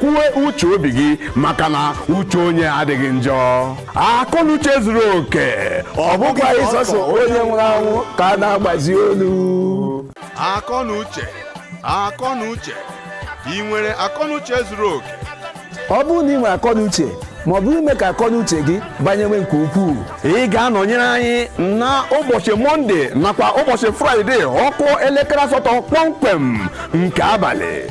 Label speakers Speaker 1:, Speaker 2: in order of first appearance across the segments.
Speaker 1: kwuwe uche obi gị maka na uche onye adịghị njọ akọnuche zuru oke ọ bụkwa sọsọ onye nwụrụ anwụ ka a na-agbazi olu akọnuche akọnuche ị nwere akọnuche zuru oke ọ bụrụ na ị nwere akọnuche ma ọ bụ ime ka akọnuche gị banyewe nke ukwuu ị ga-anọnyere anyị na ụbọchị mọnde nakwa ụbọchị fraịde ọ kụọ elekere asatọ kpọmkwem nke abalị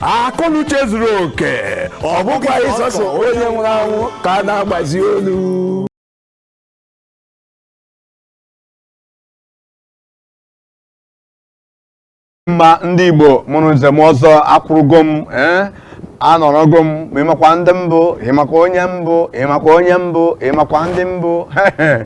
Speaker 1: akọnuche zuru oke ọ bụkwa sọsọ onye nwụrụ anwụ ka a na-agbazi olu mma ndị igbo mụrụ nze m ọzọ akwụrụgo m ee eh? anọrọgo m ma ị makwa ndị m bụ ị makwa onye m bụ ị makwa onye m bụ ị makwa ndị m bụ ee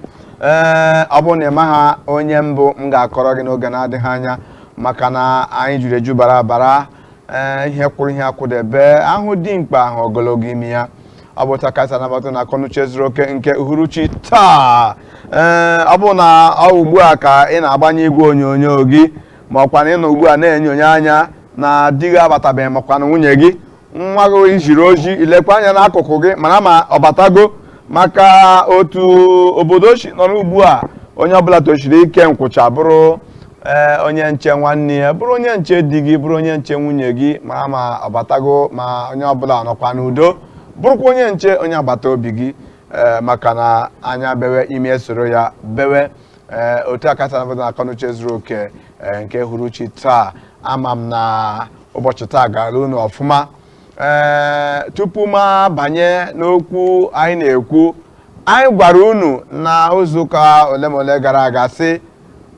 Speaker 1: eh, ọ bụrụ na ị maghị onye m bụ m ga-akọrọ gị n'oge na-adịghị anya maka na anyị juru eju bara bara ee ihe kwụrụ ihe akwụdebe a hụ dimkpa a hụ ogologo imi ya ọ bụ otu a ka e si anabata na akọnuche zuru oke nke uhuruchi taa ee ọ bụ na ọ ugbu a ka ị na-agbanye igwe onyonyo gị ma ọ kwanụ ị nọ ugbu a na-enyonye anya na di gị abatabeghị ma ọ kwanụ nwunye gị nwa gị i ziri ozi i lekwa anya n'akụkụ gị mara ma ọ batago maka otu obodo si nọrọ ugbu a onye ọbụla tosiri ike nkwụcha bụrụ ee eh, onye nche nwanne ya bụrụ onye nche di gị bụrụ onye nche nwunye gị mara ma ọ batago ma onye ọbụla ọ nọkwa n'udo bụrụkwa onye nche onye agbata obi gị eh, maka na anya bewe imi esoro ya bewe ee otu a ka e si anabata na akọnuche zuru oke ee, nke uhuruchi taa ama m na ụbọchị taa gara unu ọfụma ee tupu m abanye n'okwu anyị na-ekwu anyị gwara unu na izu ụka ole ma ole gara aga sị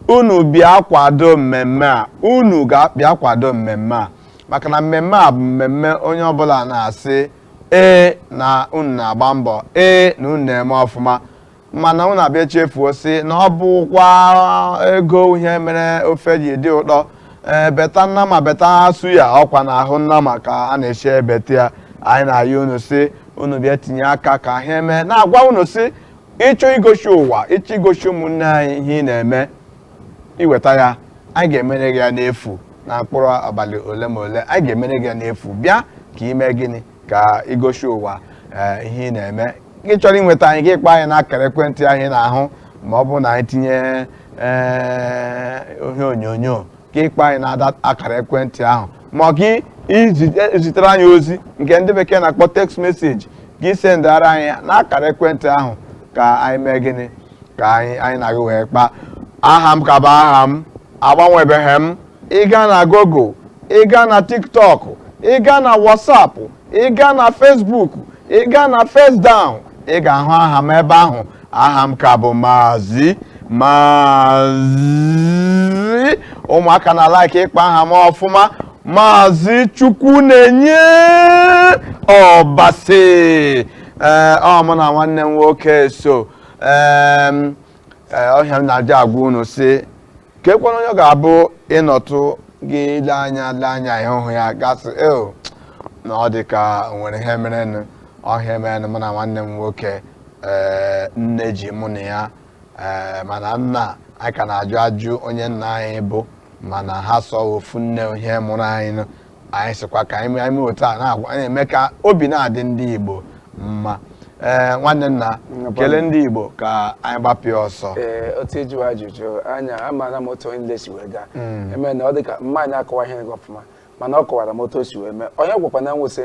Speaker 1: unu bịa kwado mmemme a unu bịa kwado mmemme a maka na mmemme a bụ mmemme onye ọbụla na-asị ee na unu na-agba mbọ ee na unu na-eme ọfụma mana unu abịa chefuo sị na ọ bụkwa ego wụ ihe mere ofe ji dị ụtọ ee beta nnama beta suya ọkwa n'ahụ nnama ka a na-esi ebeta ya anyị na-ayọ unu sị unu bịa tinye aka ka ihe m na-agwa unu sị ị chọọ igosi ụwa ị chọọ igosi ụmụnne anyị ihe ị na-eme i weta ya anyị ga-emere gị ya n'efu na mkpụrụ abalị ole ma ole anyị ga-emere gị ya n'efu bịa ka i mee gịnị ka i gosi ụwa eh, ihe ị na-eme gị chọrọ inweta anyị gị kpọọ anyị n'akara ekwentị ahụ ị na-ahụ ma ọ bụrụ na anyị tinye eh, ihe onyonyo gị kpọọ anyị n'akara ekwentị ahụ ma ọ gị izi- eh, zitere anyị ozi nke ndị bekee na-akpọ text message gị sendara anyị ya n'akara ekwentị ahụ ka anyị mee gịnị ka anyị anyị na gị wee kpaa aha m ka bụ aha m agbanwebeghị m ị gaa na Google ị gaa na TikTok ị gaa na WhatsApp ị gaa na Facebook ị gaa na Facedown ị ga-ahụ aha m ebe ahụ aha m ka bụ Maazị Maazị ụmụaka na like ịkpọ aha m ọfụma Maazị Chukwunenye Ọbasi ee ọ mụ na nwanne m nwoke so ee ọ ihe m na-eji agwa unu sị keekwanụ onye ọ ga-abụ ị nọtụ gị lee anya lee anya n'ihu ya gị asị ee na ọ dị ka o nwere ihe merenụ ọ ihe merenụ mụ na nwanne m nwoke ee nne ji mụ na ya ee mana nna anyị ka a na-ajụ ajụ onye nna anyị bụ mana ha sị ọ wụ ofu nne ọhụ mụrụ anyị nụ anyị sịkwa ka anyị mee otu a na-eme ka obi na-adị ndị Igbo mma ee nwanne nna kelee ndị Igbo ka anyị gbapịa ọsọ ee otu ị jụwa ajụjụ anya amaara m otu ihe niile si wee gaa hmm. mana ọ dị ka mma anyị akọwaghị gị ọfụma mana ọ kọwara m otu o si wee mee onye gwakwa na nwụsị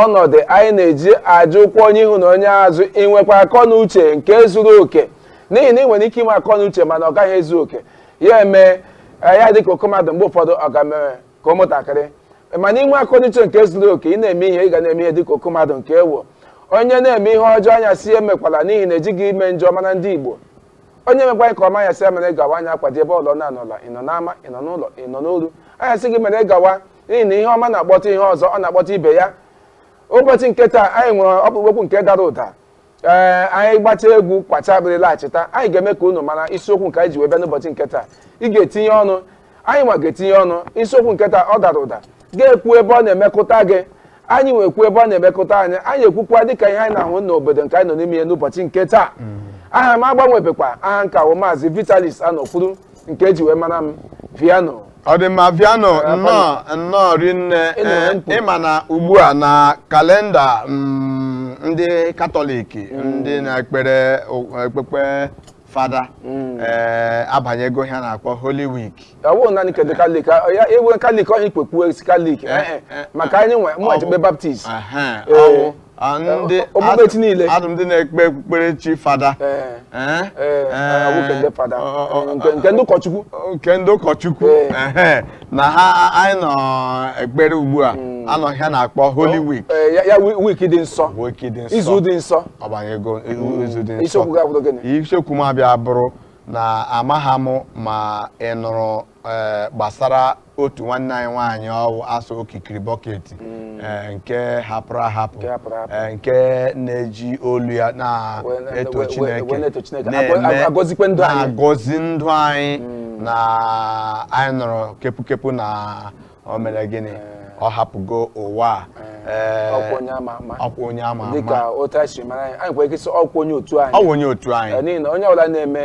Speaker 1: Ọnọdụ anyị na-eji ajụkwu onye ihu na onye azụ inwekwa akọ na uche nke zuru oke n'ihi na ị nwere ike inwe akọ na uche mana ọ gaghị ezu oke ya eme ihe dịka oke mmadụ mgbe ụfọdụ ọ ga-emere ka ụmụntakịrị mana inwe akọ na uche nke zuru oke ị na-eme ihe ị ga na-eme ihe dịka oke mmadụ nke wụ onye na-eme ihe ọjọọ anyị asị ya emekwala n'ihi na ejighị ime njọ mara ndị Igbo onye mekwa nke ọma anyị asị ya mere gawa anyị akwado ebe ọlọ na-anọla ị nọ n'ama ị nọ n'ụlọ ị nọ n'ọlụ anyị asị gị mere gawa n'ihi na ihe ọma na-akpọta ihe ọzọ ọ na-akpọta ibe ya ụbọchị nke taa anyị nwere ọkpụrụkpụ okwu nke dara ụda ee anyị gbachaa egwu kwachaa akpịrị laghachita anyị ga-eme ka unu mara isiokwu nke anyị ji wee bịa n'ụbọchị nke taa ị ga-etinye ọnụ anyị nwa ga-etinye ọnụ isiokwu nke taa ọ dara ụda gị ekwu ebe ọ na-emekụta gị anyị nwa ekwu ebe ọ na-emekụta anyị anyị ekwukwa dịka ihe anyị na-ahụ n'obodo nke anyị nọ n'ime ya n'ụbọchị nke taa aha m agbanwebekwa aha m ka wụ maazị Vitalis Anọkwuru nke e ji wee mara m Viano ọ dị mma Viano nnọọ nnọọ rinne Ị nọ na mkpu. ịma na ugbu a na kalenda mm, ndị katọlik ndị na-ekpere o- ekpekpe fada mm. ee eh, abanyego ihe a na-akpọ Holy Week ọ wụ naanị nke ndị katọlik ya ewe kalik onye ikpekwu esi kalik eh, eh, maka anyị nwa na-ekpe Baptist ndị okpukpechi niile adụ ndị na-ekpe okpukperechi fada nke ndị ụkọchukwu nke ndị ụkọchukwu na ha anyị nọ ekpere ugbu a a nọ n'ihe a na-akpọ holy week Ee, ya- ya wi- week dị nsọ week dị nsọ izu dị nsọ ọ banyego izu dị nsọ isiokwu ga-abụdị gịnị isiokwu m abịa bụrụ na amaghị m ma ị nụrụ eh, gbasara otu nwanne anyị nwaanyị ọ wụ a sị okikiri bucket mm. eh, nke hapụrụ ahapụ eh, nke na-eji olu ya na-eto Chineke na-agọzi ndụ anyị mm. na anyị nụrụ kepukepu na o mere gịnị eh. ọ hapụgo ụwa a Eh, ọkwa onye ama ama ọkwa onye ama ama dịka otu anyị si mara anyị anyị nwere ike sị ọkwa onye otu anyị ọkwa onye otu anyị eh, n'ihi na onye ọbụla na-eme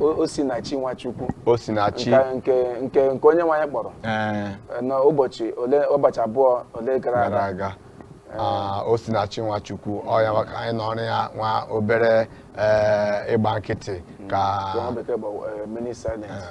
Speaker 1: O- osinachi nwachukwu osinachi nke nke nke nke onye nwe anyị kpọrọ ee eh, n'ụbọchị ole ụbọchị abụọ ole gara gara aga aga Ah, osinachi nwachukwu ọ ya maka anyị nọọrọ ya nwa obere ee, ịgba nkịtị ka nke nwa bekee bụ eh, minute silence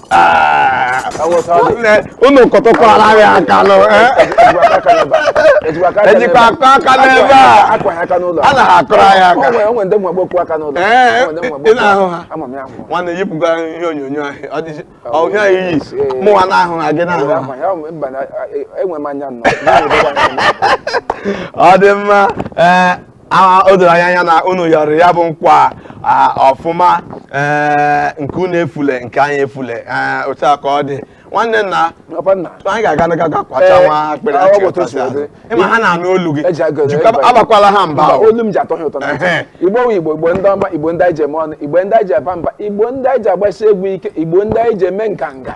Speaker 1: unu kụtụkwara ya aka nụ ejikwa akụ aka n'ebe a a na ha akụrụ ya aka Ee, ị na-ahụ ha nwanne yipụga ihe onyonyo ahụ ọ dịzi ọhịa ya iyi mụnwa na-ahụ ha gị na-ahụ ha enwe m anya nnọọ ọ dị mma ee a o doro anya anya na unu yọrọ ya bụ nkwa a, ọfụma ee, nke unu efule nke anyị efule ee, otu a ka ọ dị nwanne nna Papa nna. anyị ga-aga n'ihu ga kwacha Ee, nwa akpịrị ọ achị bụ otu o si ọtọsị azụ. dị. ịma ha na-anụ olu gị Eji agụ- Jikwa- eji- abakwala ha mba Mba, o. olu m ji atọ ha ụtọ na ntị. Ehe. igbo wụ igbo igbo ndị ọma igbo ndị anyị ji eme ọnụ igbo ndị anyị ji aba mba igbo ndị anyị ji agbasi egwu ike igbo ndị anyị ji eme nganga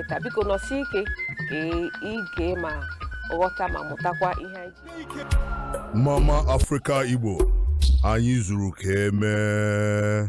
Speaker 1: nke taa biko nọsie ike ka ị gee ma ghọta ma mụtakwa ihe anyị ji Mama Africa Igbo anyị zuru ka emee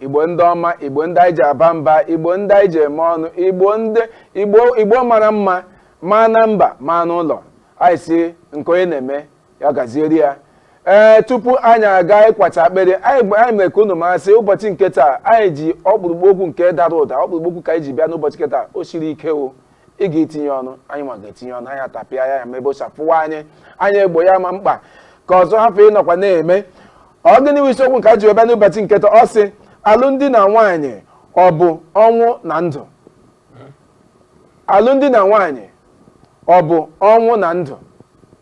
Speaker 1: igbo ndị ọma igbo ndị anyị ji aba mba igbo ndị anyị ji eme ọnụ igbo ndị igbo igbo mara mma ma na mba ma n'ụlọ anyị sị nke onye na-eme ya gazieri ya ee tupu anyị aga ịkwacha akpịrị anyị gba- anyị mere ka unu ma sị ụbọchị nke taa anyị ji ọkpụrụkpụ okwu nke dara ụda ọkpụrụkpụ okwu ka anyị ji bịa n'ụbọchị nke taa o siri ike o ị ga-etinye ọnụ anyị nwa ga-etinye ọnụ anyị atapịa ya ya ma ebe o si afụwa anyị anyị egbo ya ma mkpa ka ọzọ hapụ ịnọkwa na-eme ọ gịnị bụ isiokwu nke a ji wee bịa n'ụbọchị nke taa? ọ sị alụmdi na nwaanyị ọ bụ ọnwụ na ndụ alụmdi na nwaanyị ọ bụ ọnwụ na ndụ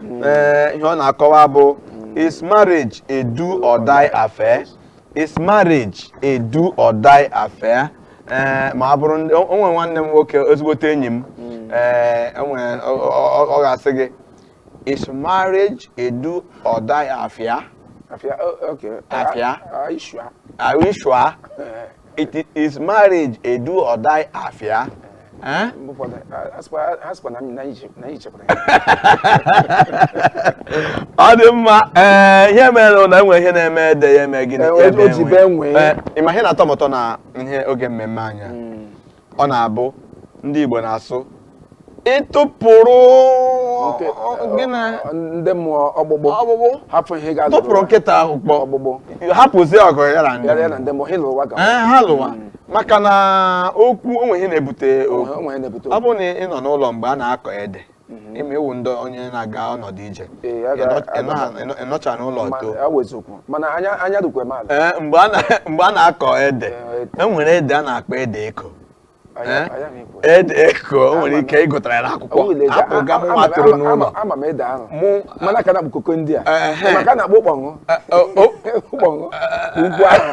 Speaker 1: hmm. eh, ihe ọ na-akọwa bụ is marriage a do or die affair is marriage a do or die affair eh, ma ọ bụrụ o nwere nwanne m nwoke ezigbote enyi m hmm. eh, ọ ga-asị gị is marriage a do or die affair affair oh, okay affair are you sure are you sure is marriage a do or die affair eh? ọ dị mma ee eh, ihe mere na enwe ihe na-eme ede ya eme gịnị eh, eh, ịma ihe na-atọ m ụtọ na ihe oge mmemme anyị a hmm. ọ na-abụ ndị Igbo na-asị ị tụpụrụ ndị mmụọ ọkpụkpụ hapụ ihe ga tụpụrụ nkịta ọkpụ ọkpụkpụ hapụzie ọgụ ya na ndị mmụọ ha lụwa hmm. maka na okwu o nwe ihe na-ebute okwu ọ bụrụ na ị nọ n'ụlọ mgbe a na-akọ ede mhm. ịma ewu ndị onye na-aga ọnọdụ ije ị nọcha n'ụlọ too mgbe a na-akọ ede e nwere ede a na-akpọ ede eko ede eko o nwere ike ị gụtara ya n'akwụkwọ abụghị m nwa toro n'ụlọ mana ka na koko ndị a maka na ụkpọṅụ ụkpọṅụ ukwu ahụ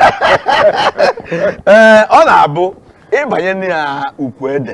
Speaker 1: ee ọ na-abụ ị banye na ukwu ede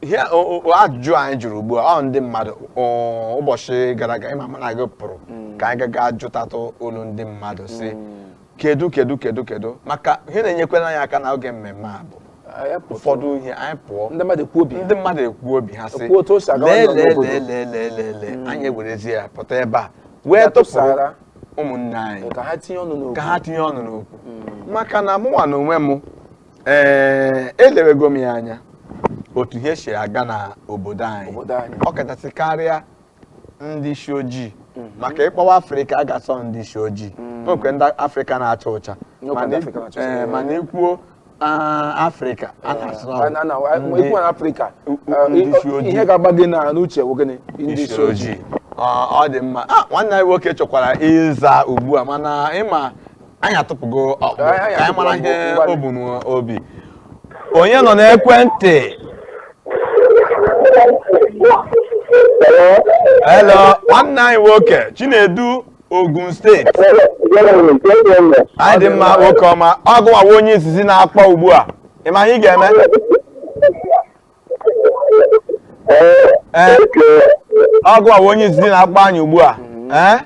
Speaker 1: ihe o- o- ajụjụ anyị jụrụ ugbu a ọ ndị mmadụ ọ, ụbọchị gara aga ị ma mụ na gị pụrụ ka anyị gaga jụtatụ olu ndị mmadụ si kedu kedu kedu kedu maka ihe na-enyekwara anyị aka na oge mmemme a bụ Anyị pụtụ. ụfọdụ ihe anyị pụọ ndị mmadụ ekwu obi ndị mmadụ ekwu obi ha sị Ekwu otu o si aga lee ọnụ lee n'obodo." lee lee lee lee lee anyị ewerezie ya pụta ebe a wee Ya tụpụrụ tụsara. ụmụnne anyị ka ha tinye ọnụ n'okwu ka ha tinye ọnụ n'okwu maka na mụnwa na onwe m ee elewego m ya anya otu ihe si aga na obodo anyị Obodo anyị. ọ kachasị karịa ndị isi ojii maka ị kpọwa afrịka a ga-asị ndị isi ojii nwekwa ndị afrịka na-acha ụcha N'okwe Mana ndị i- Afrịka na-acha ụcha, ee, ee. mana i kwuo ah, afrịka a na-asị na ọ bụ Na- na- na- ndị- ikwu na Afrịka, u- eh, ndị isi i- ojii. ihe ga-agba gị na- n'uche bụ gịnị ndị isi isi ojii ojii Ọ- ọ dị mma Ah, nwanne anyị nwoke chọkwara ịza ugbu a mana ịma anyị atụpụgo ọkpụ Anyị- anyị ka anyị mara atụpụgo ihe mgbalị. o bu n'obi onye nọ n'ekwentị hello nwanne anyị nwoke chinedu ogun steeti anyị dị mma nwoke ọma ọ gịwa wụ onye izizi na-akpọ ugbu a ị ma ihe ị ga-eme ee ọ gịwa bụ onye izizi na-akpọ anyị ugbu a ee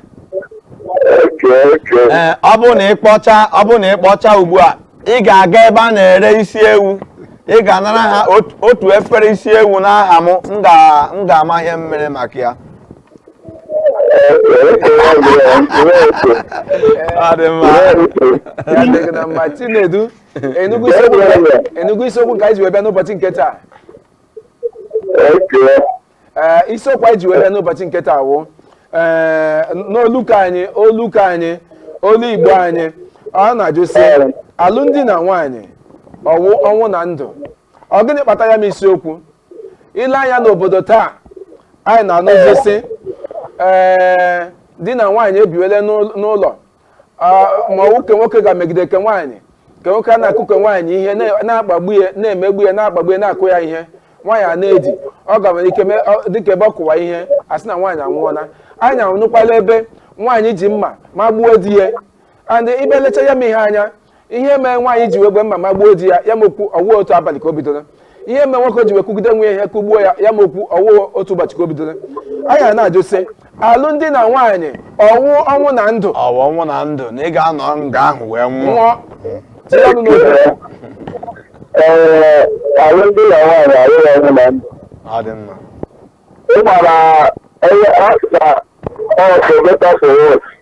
Speaker 1: ee ọ bụrụ na ị kpọchaa ọ bụrụ na ị kpọchaa ugbu a ị ga-aga ebe a na-ere isi ewu ị ga-anara ha ot- otu efere isi ewu n'aha m m ga- m ga-ama ihe m mere maka ya ọ dị mma Ya dị gị na mma Chinedu Enugu isiokwu Enugu isiokwu nke anyị ji wee bịa n'ụbọchị nke taa ee isiokwu anyị ji wee bịa n'ụbọchị nke taa wụ ee n'olu ke anyị olu ke anyị olu Igbo anyị ọ na-ajụ sị alụmdi na nwaanyị ọ wụ ọnwụ na ndụ ọ gịnị kpata ya m isiokwu ile anya n'obodo taa anyị na-anụzi sị ee di na nwaanyị ebiwele n'ụlọ ma ọ wụ ke nwoke ga-emegide ke nwaanyị ke nwoke a na-akụ ke nwaanyị ihe na-akpagbu ya na-emegbu ya na-akpagbu ya na-akụ ya ihe nwaanyị a na-edi ọ ga nwere ike dịka ebe ọ kụwa ihe a sị na nwaanyị anwụọla anyị anụkwala ebe nwaanyị ji mma magbuo di ya and ị bịa lecha ya m ihe anya ihe mere nwaanyị ji wee were mma magbuo di ya ya m okwu ọ wụ otu abalị ka o bidoro ihe mere nwoke ji wee kụgide nwe ihe kụgbuo ya ya m okwu ọ wụ otu ụbọchị ka o bidoro anyị a na-ajụ sị alụmdi na nwaanyị ọ wụ ọnwụ na ndụ ọ wụ ọnwụ na ndụ na ị ga-anọ nga ahụ wee nwụọ nwụọ tinye ọnụ n'oge ee alụmdi na nwaanyị awụghị ọnwụ na ndụ ọ dị mma ị gbara onye akta ọsọ beta soro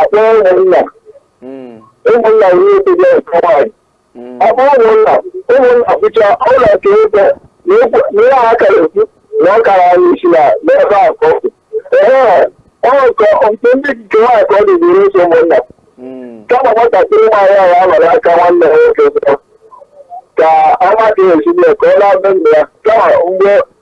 Speaker 1: akpọ ụmụnna Mm. ụmụnna nwere otu dị ọkụ nwaanyị Mm. akpọ ụmụnna ụmụnna pụcha ụlọ ka ebe na ekwu na ihe ha kara ekwu na ọ kara anyị isi na n'ebe a ka ọ kwụ ee ọ nke nke ndị nke nwaanyị ka ọ dị bụrụ ụzọ ụmụnna Mm. kama nwatakịrị nwaanyị ahụ amara aka nwanne ya nwoke zụta ka ọ mata ya ezigbo ya ka ọ na-abụ nna ya kama mgbe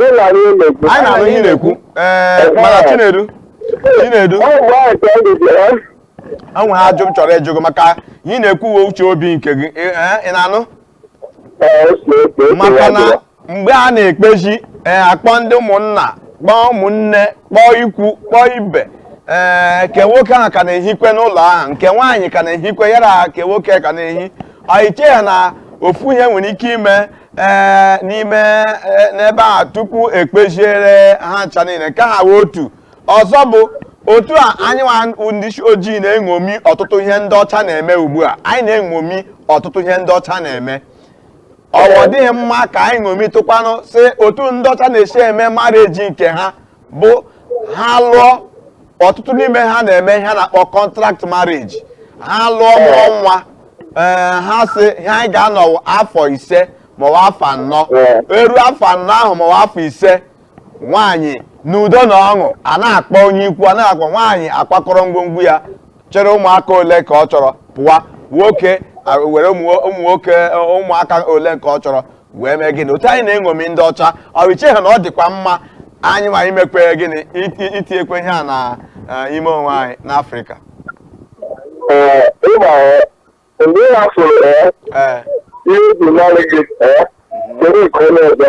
Speaker 1: anyị na-anụ ihe ị na-ekwu ee eh, mana Chinedu Chinedu enwere ajụjụ m chọrọ ịjụ gị maka ihe ị na-ekwu ọ wụ uche obi nke gị eh, eh, ị na-anụ maka na mgbe a na-ekpezi ee akpọ ndị ụmụnna kpọọ ụmụnne kpọọ ikwu kpọọ ibe ee ke nwoke ahụ ka na-ehikwe n'ụlọ ahụ nke nwaanyị ka na-ehikwe ya na ke nwoke ka na-ehi i cheghị na ofu ihe nwere ike ime ee n'ime e, n'ebe a tupu ekpeziere ha ncha niile nke ahụ wụ otu ọzọ bụ otu a anyị nwa ndị isi ojii na-eṅomi ọtụtụ ihe ndị ọcha na-eme ugbu a anyị na-eṅomi ọtụtụ ihe ndị ọcha na-eme ọ wụ ọ dịghị mma ka anyị ṅomitụkwanụ sị otu ndị ọcha na-esi eme marriage nke ha bụ ha lụọ ọtụtụ n'ime ha na-eme ihe a na-akpọ contract marriage ha lụọ mụọ nwa ee ha sị ihe anyị ga-anọ afọ ise maọbụ afọ anọ eruo afọ anọ ahụ maọbụ afọ ise nwaanyị n'udo na ọṅụ anaghị akpọ onye ikwu anaghị akpọ nwaanyị akwakọrọ ngwongwo ya chịrị ụmụaka ole nke ọ chọrọ pụwa nwoke were ụmụ nwoke ụmụaka ole nke ọ chọrọ wee mee gịnị otu anyị na-eṅomi ndị ọcha ọ iche ha na ọ dịkwa mma anyịnwa imekwe gịnị itinyekwe ihe a na eh, ime onwe anyị n'afrịka eh, mgbe ị hafụrụ eh, ihe ubi naanị gị dere nke onye ọzọ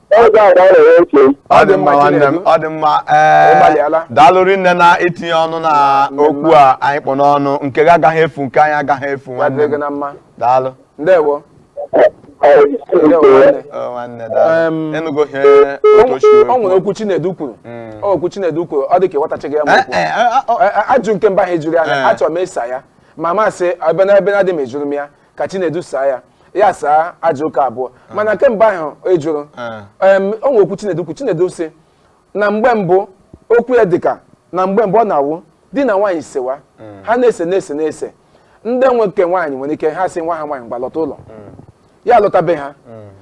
Speaker 1: Oge a ka a na-enwe ntị. ọ dị mma nwanne m ọ dị mma ee Ịgbalịala. daalụ rinne na itinye ọnụ na okwu a anyị kpụ n'ọnụ nke gị agaghị efu nke anyị agaghị efu Ya nwanne dịrị gị m na mma. daalụ Ndewo. Ndewo nwanne. Ọ, nwanne daalụ Em, ịnụgo ihe O otu o si wee o nwere kwuo. okwu Chinedu kwuru. Mm. O okwu Chinedu kwuru ọ dị ka ịghọtachaghị ya ma Eh, okwu. eh, ah, ah, oh, A- a- ajụjụ nke mbụ ahụ ị jụrụ ya Eh. achọrọ m ịsa ya ma m sị ebe na ebe na-adị m jụrụ m ya ka chinedu saa ya ya saa ajụjụ nke abụọ mana nke mbụ ahụ ị jụrụ Eh. em, o nwere okwu chinedu kwu chinedu sị na mgbe mbụ okwu ya dịka na mgbe mbụ ọ na-awụ di na nwaanyị sewa ha na-ese na-ese na-ese ndị nwe nke nwaanyị nwere ike ha sị nwa ha nwaanyị gbalọta ụlọ ya lọta be ha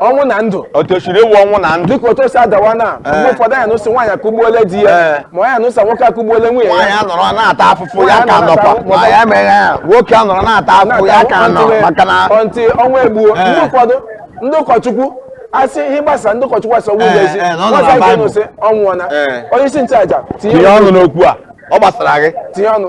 Speaker 1: ọnwụ na ndụ otu o siri ewu ọnwụ na ndụ dịka otu o si adawa na mgbe Ee. ụfọdụ anyị nụ sị nwaanyị akụgbuole di Ee. ya ma anyị nụ sị nwoke akụgbuole nwunye nwaanyị ya anọrọ na-ata afụfụ ya ka Nwaanyị nọkwa anọrọ- ma ya emeghe ya nwoke anọrọ na-ata afụfụ ya ka nọ maka na ọntị ọnwa egbuo Ee. ndị ụfọdụ ndị ụkọchukwu asị ihe gbasa ndị ụkọchukwu asị ọnwụ Ee, ụlọ ezi ee, na ọ nọ na nwata Bible. ga-anụ sị ọ nwụọna Ee. onye isi nchụaja tinye tinye ọnụ n'okwu a ọ gbasara gị tinye ọnụ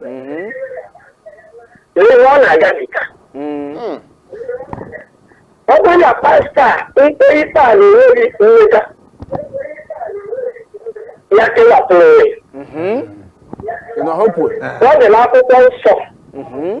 Speaker 1: Mhm. Lee ihe ọ na-agabiga. Mm. Ọ bụrụ na pastọ ekpee ikpe a na-enweghị mmeta ya kewapụrụ onwe ya. Mhm. Ị nọ hopụ. Ọ dị n'akwụkwọ nsọ. Mhm.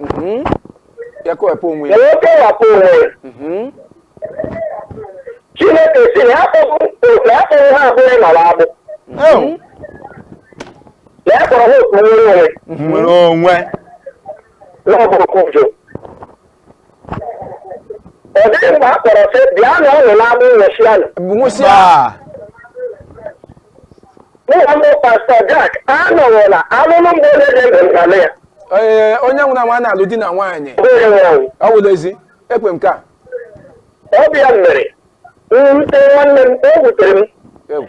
Speaker 1: Mhm. ya kewapụ onwe ya wee kewapụ onwe ya Mhm. chineke sị na ya akpọghị otu ya akpọghị ha abụọ ịnọrọ agbụ Ew. na ya kpọrọ ha otu nwere onwe nwere onwe na ọ bụrụ kụjụ ọ dịghị mgbe a kpọrọ sị bịa na ọnụ n'ama nwụsịanụ nwụsịa mụ na mbụ pastọ Jack anọghịla alụlụ mgbe onye dị ndụ ngalị ya ee onye nwụrụ anwụ a na-alụ di na nwaanyị bụ onye nwụrụ anwụ ọ wụrụ ezi ekwe m ka ọ bịa mere mwute nwanne m o wutere m egwu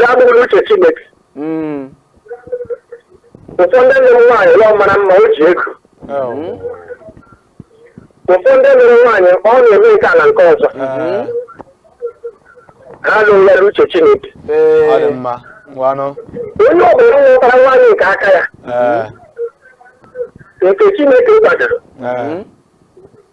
Speaker 1: ya abụghị uche chineke Mm. ụfọdụ ndị nụrụ nwaanyị na ọ mara mma o ji ego ụfọdụ ndị nụrụ nwaanyị ọ na-eme nke a na nke ọzọ ha alụghị ya n'uche chineke Ee. ọ dị mma ngwanụ onye ọ bụla nwetara nwaanyị nke aka ya Ee, nke chineke kwadoro ee,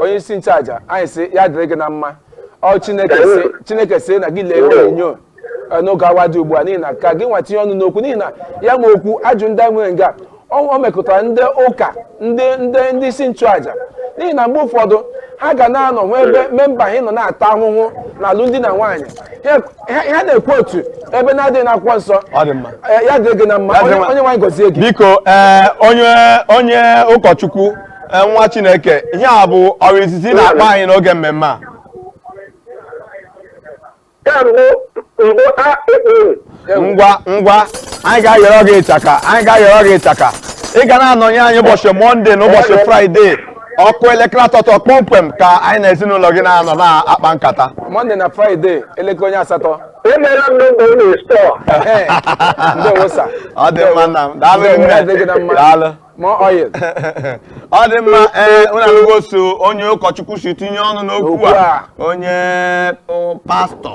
Speaker 1: onye isi nchụaja anyị sị ya dịrị gị na mma ọ chineke sị chineke sị na gị lee ihe onyonyo eh, n'oge awa dị ugbu a n'ihi na ka gị nwa tinye ọnụ n'okwu n'ihi na ya nwe okwu ajụ ndị anyị nwere nga ọ ọ mekụtara ndị ụka ndị ndị ndị isi nchụaja n'ihi na mgbe ụfọdụ ha ga na-anọ n'ebe memba ha nọ na-ata ahụhụ na alụmdi na nwunye Ha- ha ha na-ekwu otu ebe na-adịghị n'akwụkwọ nsọ Ọ dị mma. Eh, ya dịrị gị na mma Ya dịrị onye mma. onyenwe anyị gọzie gị biko ee onye onye ụkọchukwu Ee, nwa chineke ihe a bụ oge izizi ị na-akpọ anyị n'oge mmemme a Ya mbụ mbụ a ekpere. ngwa ngwa anyị ga-ayọrọ gị ịchaka anyị ga-ayọrọ gị ịchaka ị ga na-anọnye anyị ụbọchị mọnde na ụbọchị fraịde ọ kụọ elekere asatọ kpọmkwem ka anyị na ezinụlọ gị na-anọ na-akpa nkata mọnde na fraịde elekere onye asatọ Emela m nọmba unu store. Ehe. ndewo sa ọ dị mma nna m daalụ Ndewo, nne. ya dịrị gị na mma. daalụ More oil. ọ dị mma ee unu anụgo osi onye ụkọchukwu si tinye ọnụ n'okwu Okwu a a. onye ọ, pastọ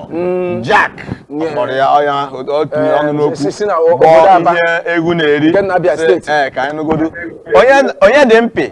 Speaker 1: Jack ọ Yeah. kpọrọ ya ọya ahụ, ọ tinye Eh, ọnụ n'okwu si- si na o- kpọọ obodo Aba. ihe egwu na-eri Nke na Abia Sị, steeti. ee ka anyị nụgodu onye onye dị mpị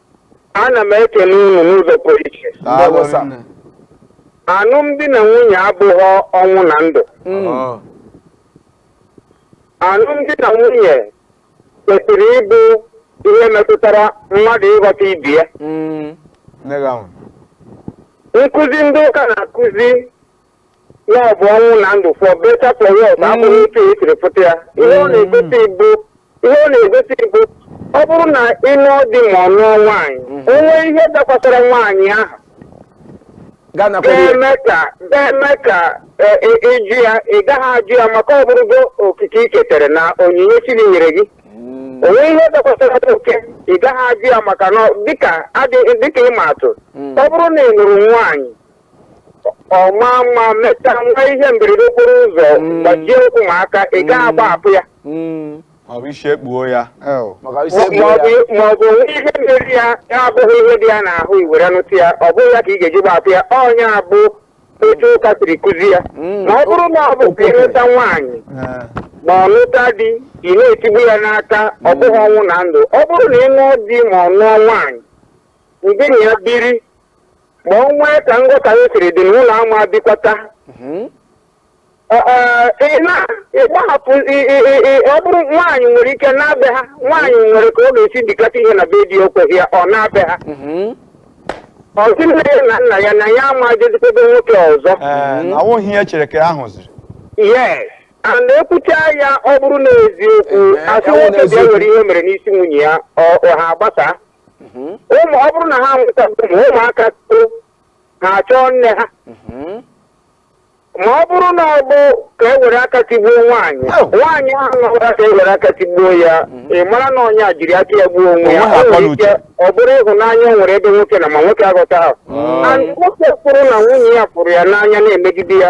Speaker 1: ana m ekele unu n'ụzọ pụrụ iche Ndewo, sir. Daalụ alụmdi na nwunye abụghị ọnwụ na ndụ nne. Ọ, alụmdi na nwunye kwesịrị ịbụ ihe metụtara mmadụ ịghọta ibe ya Mm. nne gị ahụ. nkụzi ndị ụka na-akụzi na ọ bụ ọnwụ na ndụ for better for worse abụghị otu e siri fụta ya ihe ọ na-egosi bụ ihe ọ na-egosi bụ ọ bụrụ na ị nụọ di ma ọ nụọ nwaanyị o nwee ihe dakwasara nwaanyị ahụ gaa nakwa ya ga-eme ka ga-eme ka e, e, ị jụ ya ị gaghị ajụ ya maka ọ bụrụgo okike i ketere na onyinye chi nyere gị o nwee ihe dakwasara nwoke ị gaghị ajụ ya maka na dịka adị- dịka ịma atụ ọ bụrụ na ị nụrụ nwaanyị ọ maa mma mechaa nwee ihe mberede okporo ụzọ gbajie ụkwụ ma aka ị gaghị agbahapụ ya ọ bụ isi ekpuo ya Ew. maka isi Ma- ekpuo ya maọbụ maọbụ o nwee ihe mere ya ya abụghị ihe dị ya n'ahụ i were nụta ya ọ bụghị ya ka ị ga-eji gbahapụ ya ọ nya bụ otu ụka siri kụzi ya Mm. ma ọ bụrụ na ọ bụ ka ị nụta nwaanyị Eh, ma ọ nụta di ị na-etigbu ya n'aka ọ bụghị ọnwụ na ndụ ọ bụrụ na ị nụọ di ma ọ nụọ nwaanyị ndị na ya biri ma o nwee ka nghọtahie siri dị n'ụlọ ama bikwata ịgbahapụ ọ bụrụ nwaanyị nwere ike naa be ha nwaanyị nwere ka ọ ga-esi dikata ihe na be di o kweghị ya ọ naa be ha ọ sị nne ya na nna ya na ya ama jezikwa be nwoke ọzọ Ee, na awụghị ihe chere ka ahụ ziri yes and e kwuchaa ya ọ bụrụ na eziokwu Ee, asị ya wụ na nwoke bịa eziokwu. nwere ihe o mere n'isi nwunye ya ọ ọ ha agbasa ụmụ ọ bụrụ na ha nweta ụmụ ụmụaka too ha achọọ nne ha ma ọ bụrụ na ọ bụ ka e were aka tigbuo nwaanyị Oh. nwaanyị ahụ nọbara ka e were aka tigbuo ya ị mara na onye a jiri aka ya gbuo onwe ya Onwe ha O nwere akọla uche. ike ọ bụrụ ịhụnanya o nwere ebe nwoke nọ ma nwoke aghọtahụ Oh. And nwoke hụrụ na nwunye ya hụrụ ya n'anya na-emegide ya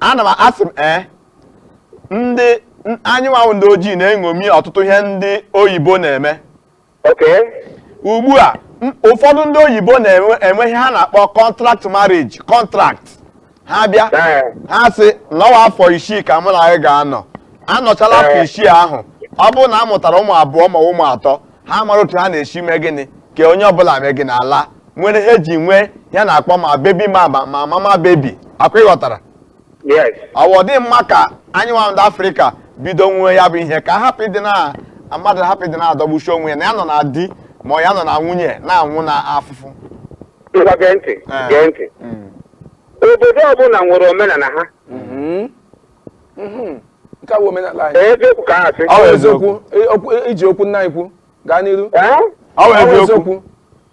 Speaker 1: ana m asị m ee ndị anyị nwa wụ ndị ojii na-eṅomi ọtụtụ ihe ndị oyibo na-eme ugbu a ụfọdụ ndị oyibo na-enwe ihe ha na-akpọ contract marriage contract ha bịa ha sị na ọ wụ afọ isii ka mụ na gị ga-anọ a nọchaala afọ isii ahụ ọ bụrụ na a mụtara ụmụ abụọ ma ụmụ atọ ha mara otu ha na-esi mee gịnị kee onye ọbụla mee gịnị alaa nwere ihe e ji nwee ihe a na-akpọ ma baby ma ma ma mama baby ọkwa ị ghọtara yes ọ wụ ọ dị mma ka anyị nwa ndị afrịka bido nwewe ya bụ ihe ka a hapụ ịdị na mmadụ hapụ ịdị na-adọgbusi onwe ya na ya nọ na di ma ọ ya nọ na nwunye na-anwụ na afụfụ ngwa gee ntị Eh. gee ntị Mm. obodo ọbụla nwere omenala ha Mhm. Mhm. nke a bụ omenala anyị ee eziokwu ka a sị Ọ bụ eziokwu. eziokwu e- okwu- e- iji okwu nna anyị ukwu gaa n'iru Eh? Ọ bụ Ọ bụ eziokwu.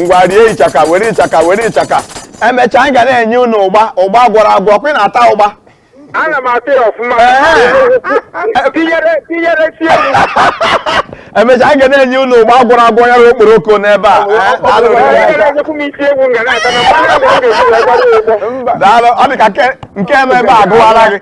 Speaker 1: ngwa rie ịchaka were ịchaka were ịchaka emechaa anyị ga na-enye unu ụgba ụgba gwọrọ agwọ ọkwa ị na-ata ụgba ana m ata ya ọfụma tinyere si emechaa anyị ga na-enye unu ụgba gwọrọ agwọ ya okporoko n'ebe a daalụ ọ dị ka nke ebe agụwara gị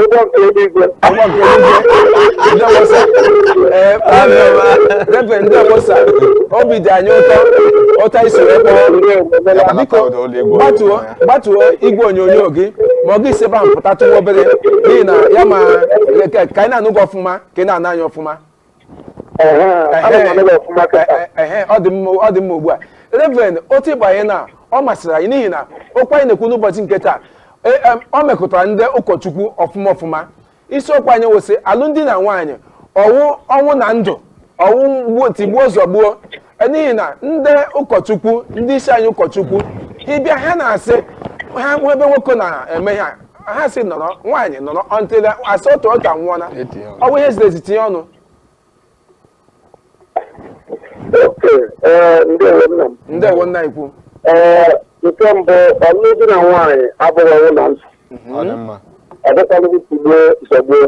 Speaker 1: Ụgbọ nke eluigwe. Ụgbọ nke eluigwe. Ndewo sir. Ee, Reverend ndewo sir. Obi dị anyị ụtọ ụtọ i so wee kpọọ. Ndewo. Biko gbatuo gbatuo igwe onyonyo gị ma ọ gị si ebe ahụ pụtatụwa obere n'ihi na ya ma ka ka anyị na-anụ gị ọfụma ka ị na-anụ anyị ọfụma. Ehe, ana m anụ gị ọfụma kịta. ehe ọ dị mma ọ dị mma ugbu a reverend otu ị bụ ya na ọ masịrị anyị n'ihi na okwu anyị na-ekwu n'ụbọchị nke taa e, em, ọ metụtara ndị ụkọchukwu ọfụma ọfụma isiokwu anyị wụ sị alụmdi na nwunye ọ wụ ọnwụ na ndụ ọ wụ mgbuo tigbuo zọgbuo E, n'ihi na ndị ụkọchukwu ndị isi anyị ụkọchukwu ị bịa ha na-asị ha hụ ebe nwoke na-eme ha ha sị nọrọ nwaanyị nọrọ until asị otu otu anwụọla Etinye ọnụ. ọ bụ ihe ziri ezi tinye ọnụ oke ee ndewo nna m ndewo nna ikwu ee nke mbụ ọlụlụ di na nwaanyị abụghị ọnwụ na ndụ ọ dị mma ọ dịkwanụghị tigbuo zọgbuo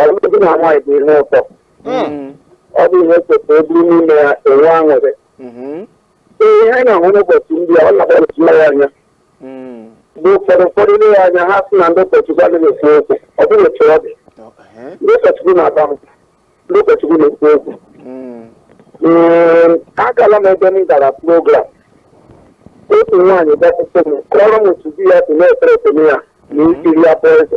Speaker 1: ọlụlụ di na nwaanyị bụ ihe ụtọ Mm. ọ bụ ihe kwesịrị bụrụ n'ime ya enwe aṅụrị Mhm. ee ihe anyị na-ahụ n'ụbọchị ndị a ọ na-agbalịsi ya anya Mm. bụ ụfọdụ ụfọdụ i lee ya anya ha sị na ndị ụkọchukwu adịghị ekwu okwu ọ bụghị otu ọ dị Oh, eh. ndị ụkọchukwu na-aba mba ndị ụkọchukwu na-ekwu okwu Mm. Ee, agala m ebe m gara program otu nwaanyị bịakwute m kọrọ m otu di ya si na-threaten ya na ikiri ya bụ eze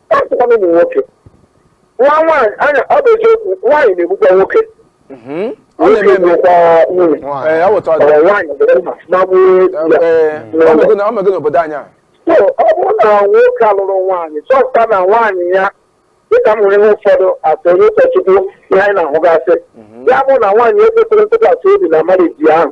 Speaker 1: na-egbukwana ụmụ nwoke nwa nwaanyị anya ọ bụ eziokwu nwaanyị na-egbukwa nwoke Mhm. ọ nwoke na-eme eme na-egbukwa nwunye Nwaanyị. ee awụta ọ ọdị nwaanyị buru mma magbuo di ya ee ọ mego na- ọ mego n'obodo anyị a so ọ bụrụ na nwoke a lụrụ nwaanyị chọpụta na nwaanyị ya dịka m hụrụ ihe ụfọdụ as onye ụkọchukwu ihe anyị na-ahụgasị ya bụ na nwaanyị ekwesịghị ntụkwasị obi na marriage ahụ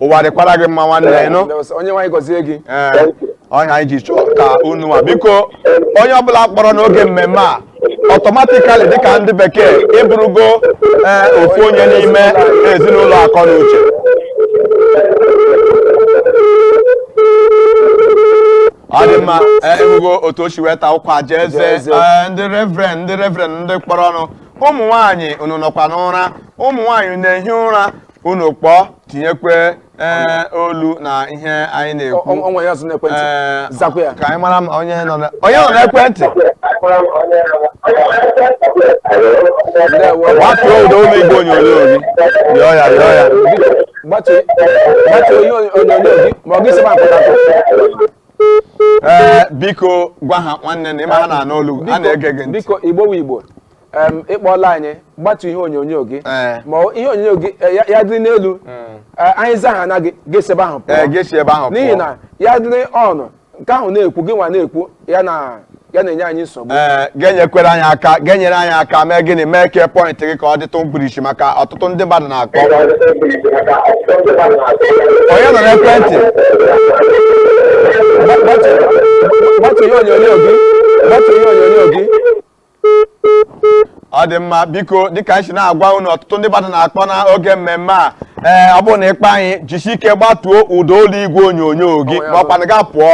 Speaker 1: ụwa dịkwara gị mma nwanne ya ị nụ Onyenwe anyị gọzie gị ee ọ ya anyị ji chọọ ka unu nwa biko onye ọbụla kpọrọ n'oge mmemme a automatically dịka ndị bekee ị bụrụgo ee ofu onye n'ime ezinụlọ akọ na uche ọ dị mma ee, ị hụgo otu o si wee taa ụkwa jaa eze Jaa eze. ee, ndị reverend ndị reverend ndị kpọrọ ọnụ ụmụ nwaanyị unu nọkwa n'ụra ụmụ nwaanyị na-ehi ụra unu kpọọ tinyekwe ee olu na ihe anyị na-ekwu O- o nwere ọzọ n'ekwentị Ee, zakwa ya ka anyị mara ma onye nọ na- onye nọ n'ekwentị ndewo gbatuo ụda ụlọ igwe onyonyo gị yọọ ya yọọ ya gbatuo gbatuo ihe onyo- onyonyo gị ma ọ gị si ebe ahụ pụta pụọ ee biko gwa ha nwanne na ị ma ha na-anụ olu a na-ege gị ntị biko igbo wu igbo em, ị kpọọla anyị gbatu ihe onyonyo gị Ee. ma ọ- ihe onyonyo gị eh, ya- ya dịrị n'elu Eh, anyị za ha na gị gị esi ebe ahụ pụọ. Ee, gị esi ebe ahụ pụọ. n'ihi na ya dịrị on nke ahụ na-ekwu gị nwa na-ekwu ya na ya na-enye anyị nsogbu ee ga-enyekwere anyị aka ga-enyere anyị aka mee gịnị mee ka point gị ka ọ dịtụ mkpirisi maka ọtụtụ ndị mmadụ na-akpọ onye nọ n'ekwentị Gba- gbatu- gbatu ihe onyonyo gị gbatu ihe onyonyo gị ọ dị mma biko dịka anyị si na-agwa unu ọtụtụ ndị mmadụ na-akpọ n'oge mmemme a ee ọ bụrụ na ị kpọ anyị jisi ike gbatuo ụda olu igwe onyonyo gị ma ọ kwanụ gaa pụọ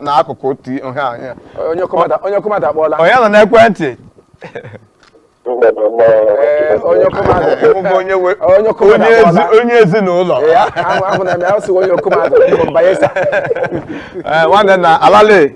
Speaker 1: na akụkụ onye ọzọ mmadụ akpọọla onye nọ n'ekwentị onye ezinụlọ nwanne na alale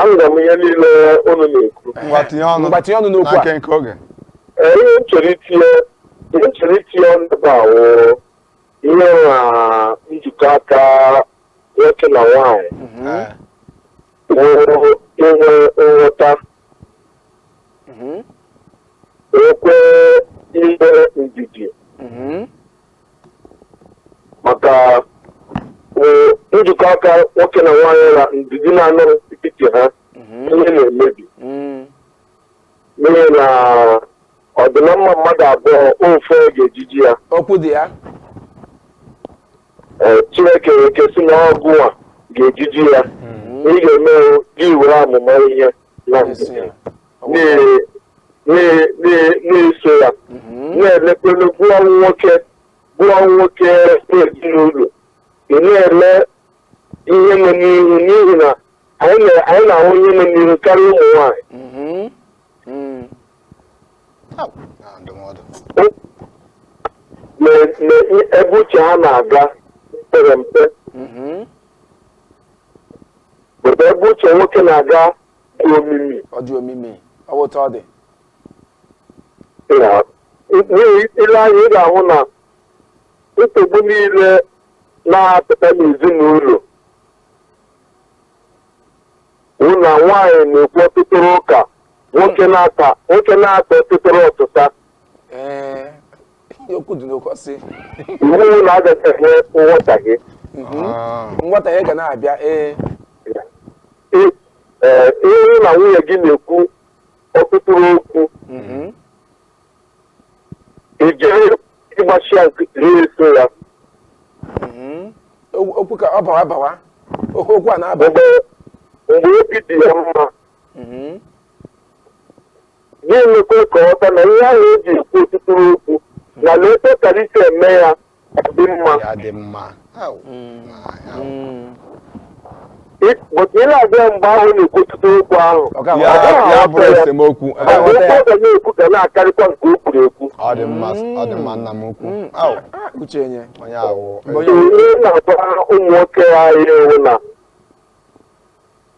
Speaker 1: anụrụ m ihe niile unu na-ekwu ngwa tinye ọnụ Ngwa tinye ọnụ n'okwu a. na nkenke oge Ee, ihe m chọrọ itinye ihe m chọrọ itinye ọnụ ebe a wụ ihe na njikọ aka nwoke na nwaanyị Ee. wụrụ inwe nghọta nwekwe inwe ndidi maka eh, njikọ aka nwoke na nwaanyị na ndidi na-anọrọ n'etiti ha ihe na-emebi Mm. n'ihi na ọdịnamma mmadụ abụọ ofe ọ ga-ejiji ya okwu dị ya Eh, chineke wee kesị na ọgụ a ga-ejiji ya ị ga-eme gị were amụma ihe na-eso ya na- na- na- na-eso ya Mhm. na-elekwa anya gị wụ nwoke gị wụ nwoke ezinụlọ ị na-ele ihe nọ n'ihu n'ihi na anyị na- anyị na-ahụ ihe nọ n'ihu karịa ụmụ nwaanyị Mhm. Mm. Au, na ndụmọdụ na na ebe uche ha na-aga pere mpe Mhm. But ebe uche nwoke na-aga dị omimi. ọ dị omimi ọ wụ otu ọ dị Ya, n'ihi i lee anya ị ga-ahụ na nsogbu niile na-apụta n'ezinụlọ wụ na nwaanyị na-ekwu ọtụtụrụ ụka nwoke na-ata nwoke na-ata ọtụtụrụ ọtụta okwu dị n'okwu ọsị ị hụ na agachaghị nghọtahie nghọtahie ga na-abịa ee ị hụ na nwunye gị na-ekwu ọtụtụrụ okwu i jiri ịgbachi ya nkịtị na-eso ya okwu ka ọ bawa bawa okwu a na-aba mgbe obi dị ya mma gị emekwe ka ọ ghọta na ihe ahụ e ji ekwu ọtụtụrụ okwu na na etu ọ kara isi eme ya dị mma ya dị mma Au, ma, au. but ị na-abịa mgbe ahụ na-ekwu ọtụtụrụ okwu ahụ Ọ ga- ya ọ ga- ya bụrụ esemokwu ọ ga- okwu ọ ga na-ekwu ga na-akarịkwa nke o kwuru ekwu ọ dị mma ọ dị mma nna m ukwu Mm, au, ah, uche nye onye ahụ Mgbe onye- ihe na-agwa ụmụ nwoke anyị wụ na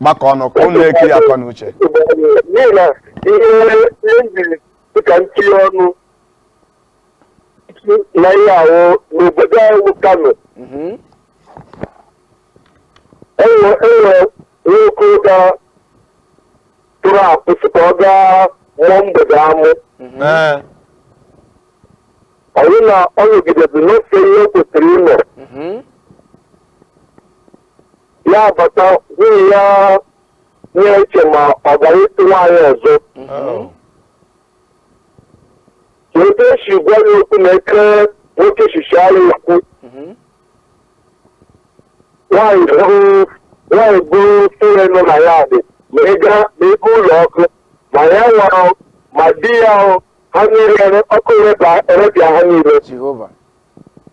Speaker 1: gbakọ ọnụ ka unu na-eke ya akọ na uche n'ihi na ihe ihe njiri dịka ntinye ọnụ na ihe ahụ n'obodo anyị bụ Kano Mhm. enwe enwe nwoke ga pụrụ apụ sị ka ọ gaa mụọ mgbede amụ Ee, ọ bụrụ na ọ nọgidezi nọfee ihe o kwesịrị ịnọ Mhm. ya abata nwunye ya na-eche ma ọ gara ịchụ nwaanyị ọzọ Oh. ka ebe esi gwa ya okwu na eke nwoke shishi anyị okwu Mhm. nwaanyị buru nwaanyị buru fuel nọ na yard ma ị gaa ma ebe ụlọ ọkụ ma ya nwa ọ, ma di ya ọ, ha niile ọkụ ereba- erepịa ha niile Jehova.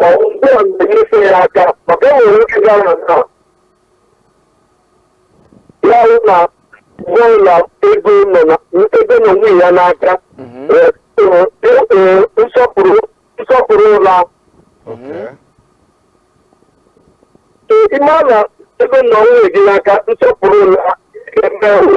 Speaker 1: ma ọ bụ mgbe ọ na-enyere ya aka maka e nwere oge gara na nna ya hụ na mgbe ọbụla ego nọ na ego nọ nwunye ya n'aka eh, eh, eh, eh, nsọpụrụ nsọpụrụ ụla Okay. ịma na ego nọ nwunye gị n'aka nsọpụrụ ụla ga-eme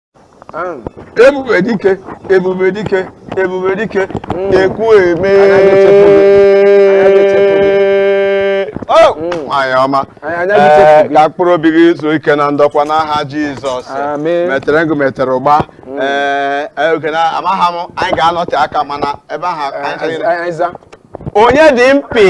Speaker 1: ebube dike ebube dike ebube dike mm. ekwu eme oh! mm. nwanyị ọma eh, ka mkpụrụ obi gị zuo ike na ndokwa n'aha Jizọs metere ngụ metere ụgba mm. eh, eh, oge na amaghị ma anyị ga-anọte aka mana ebe ahụ onye dị mpi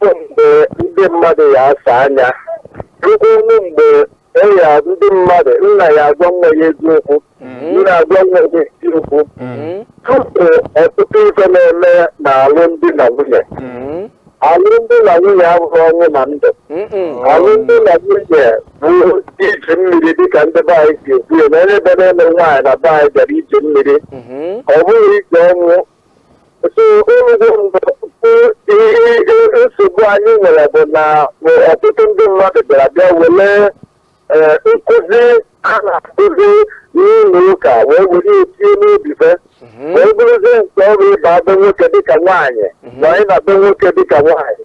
Speaker 1: bụ mgbe ndị mmadụ ya asa anya rụkwa ọnụ mgbe eya ndị mmadụ nna ya agwa nwa ya eziokwu nna agwa nwa ya eziokwu tupu ọtụtụ ife na-eme na alụmdi na nwunye alụmdi na nwunye abụghị ọnwụ na ndụ alụmdi na nwunye bụ ije mmiri dịka ndị be anyị si ekwu ya na onye bịara ịlụ nwaanyị na be anyị bịara ije mmiri ọ bụghị ije ọnwụ So nnukwu nsogbu anyị nwere bụ na ọtụtụ ndị mmadụ bịara bịa were eh, nkụzi a na-akụzi n'ụlọ ụka wee were ya tinye n'obi fa wee bụrụzie nke ọrụ ịba be nwoke dịka nwaanyị na ịna be nwoke dịka nwaanyị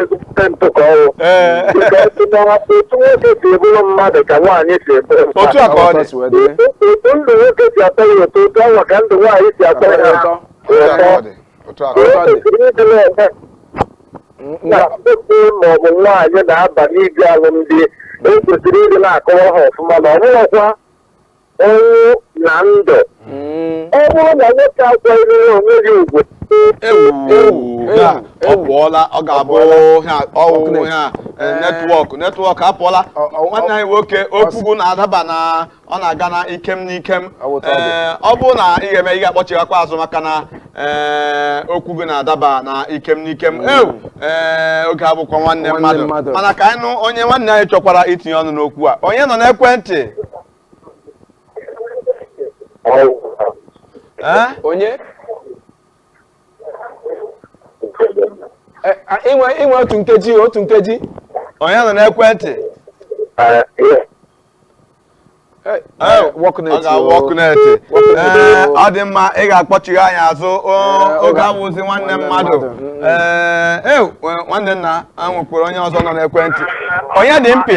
Speaker 1: ezigbote ntụkọ ọrụ Ee. Because na otu nwoke si bụrụ mmadụ ka nwaanyị si bụrụ mmadụ otu a ka ọ Ọtọ dị si wee dịrị. otu ndụ nwoke si atọ ya ụtọ otu ahụ ka ndụ nwaanyị si atọ ya ụtọ. otu a ka ọ dị otu a ka ọ dị. kwesịrị ịdị na-eme na nwoke ma ọ bụ nwaanyị na-aba n'ime alụmdi ekwesịrị ịdị na-akọwa ha ọfụma na ọbụghịkwa ọnwụ na ndụ ọ bụrụ na nwoke akwanyere onwe ya ugwu ewu ya ọ pụọla ọ ga-abụ ha ọwụ ha netwọk netwọk apụọla Ọ- ọ- nwanne anyị nwoke okwu gị na-adaba na ọ na-aga na ikem na ikem Ọ bụ tọọdụ. Ee, ọ bụrụ na ị ga-eme ị ga-akpọchighakwa azụ maka na ee, okwu gị na-adaba na ikem na ikem ewu ee, oge abụkwa nwanne Nwanne mmadụ mmadụ. mana ka anyị nụ onye nwanne anyị chọkwara itinye ọnụ n'okwu a onye nọ n'ekwentị Eh? onye Eh, ah, inwe inwe otu nkeji otu nkeji onye nọ n'ekwentị Eh, Eh, eh, work net, ọ ga-awụ oh. ọkụ na-ete Work net, Ee, oh. ọ dị mma ị ga-akpọchigha anyị azụ o, Ee, oge oge awụzi nwanne nwanne mmadụ mmadụ, mm. Ee, e, nwanne nna a nwekwara onye ọzọ nọ n'ekwentị onye dị mkpị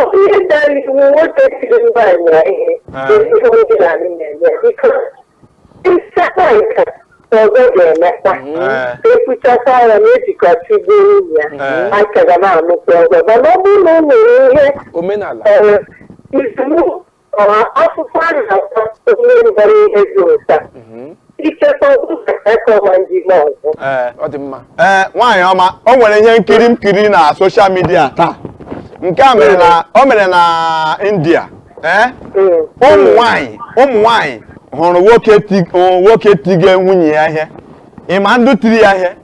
Speaker 1: Onye dara iwu nwoke siri nwaanyị na ihe Ah. ezigbo ndị na-alụ na-eme biko ịsakpa nka ọzọ ga-emekwa Ee. ekwuchakwa ya na ejikọta igbo nwunye ya Eh. aka ga na-alụkwa ọzọ mana ọ bụrụ na o nwere ihe omenala eh, iwu akwụkwọ a na-akpọ onye mbara ihe dị ụta ichekwa ụka akọwa ndị ime ọzọ ee ọ dị mma ee nwaanyị ọma o nwere ihe nkiri m kiri na soshal midia taa nke a mere na o mere na india ee ụmụ nwanyị ụmụ nwanyị hụrụ nwoke ti- hụrụ nwoke tiga nwunye ya ihe ịma ndụ tiri ya ihe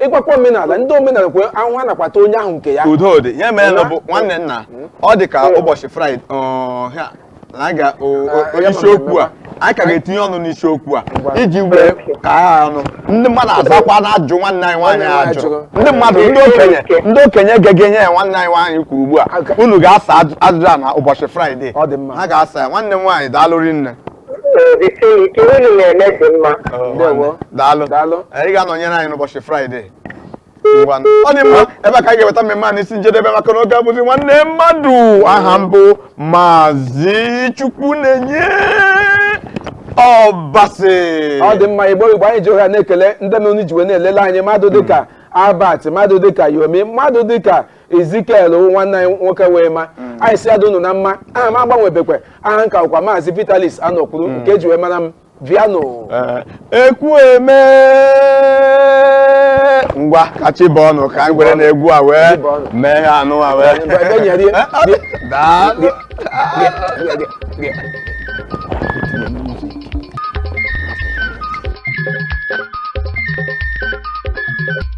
Speaker 1: ịkwakwa omenala ndị omenala kwe ahụ ha nakwata onye ahụ nke ya udo dị ihe merenụ bụ nwanne nna ọ dị ka ụbọchị fraịde ọhịa na a ga- o- o- Ah, ya isiokwu a anyị ka ga-etinye ọnụ n'isiokwu a Ngwa. iji wee ka ha ọnụ ndị mmadụ azakwa na ajụ nwanne anyị nwaanyị ajụ Ajụ. ndị mmadụ ndị okenye ndị okenye gegenụ ihe nwanne anyị nwaanyị kwuru ugbu a Aga- unu ga-asa ajụ- ajụjụ a na ụbọchị fraịde Ọ dị mma. ha ga-asa ya nwanne m nwaanyị daalụ rinne Jisiri ike unu na-eme dị mma. Oh, Ndewo. nwanne. daalụ Daalụ. Eh, ị ga-anọnyere anyị n'ụbọchị fraịde Ngwa. ọ dị mma ebe a ka anyị ga-eweta mmemme a n'isi njedebe maka na oge abụzi nwanne mmadụ aha m bụ maazị chukwunenye ọbasị ọ dị mma igbo igbo anyị ji ohere na-ekele ndị mere unu ji wee na-elele anyị mmadụ dịka albert mmadụ dịka yomi mmadụ dịka ezikiel wụ nwanne anyị nwoke wee ma anyị sị ya dị unu na mma aha m agbanwebekwa aha m ka wụkwa maazị vitalis anọkwuru nke e ji wee mara m viano Ee, ekwueme ngwa ka chi bọọnụ ka anyị gwere na egwu a wee Chi bọọnụ. mee ha anụ a wee Ngwa, ebe nyere ya. Daalụ.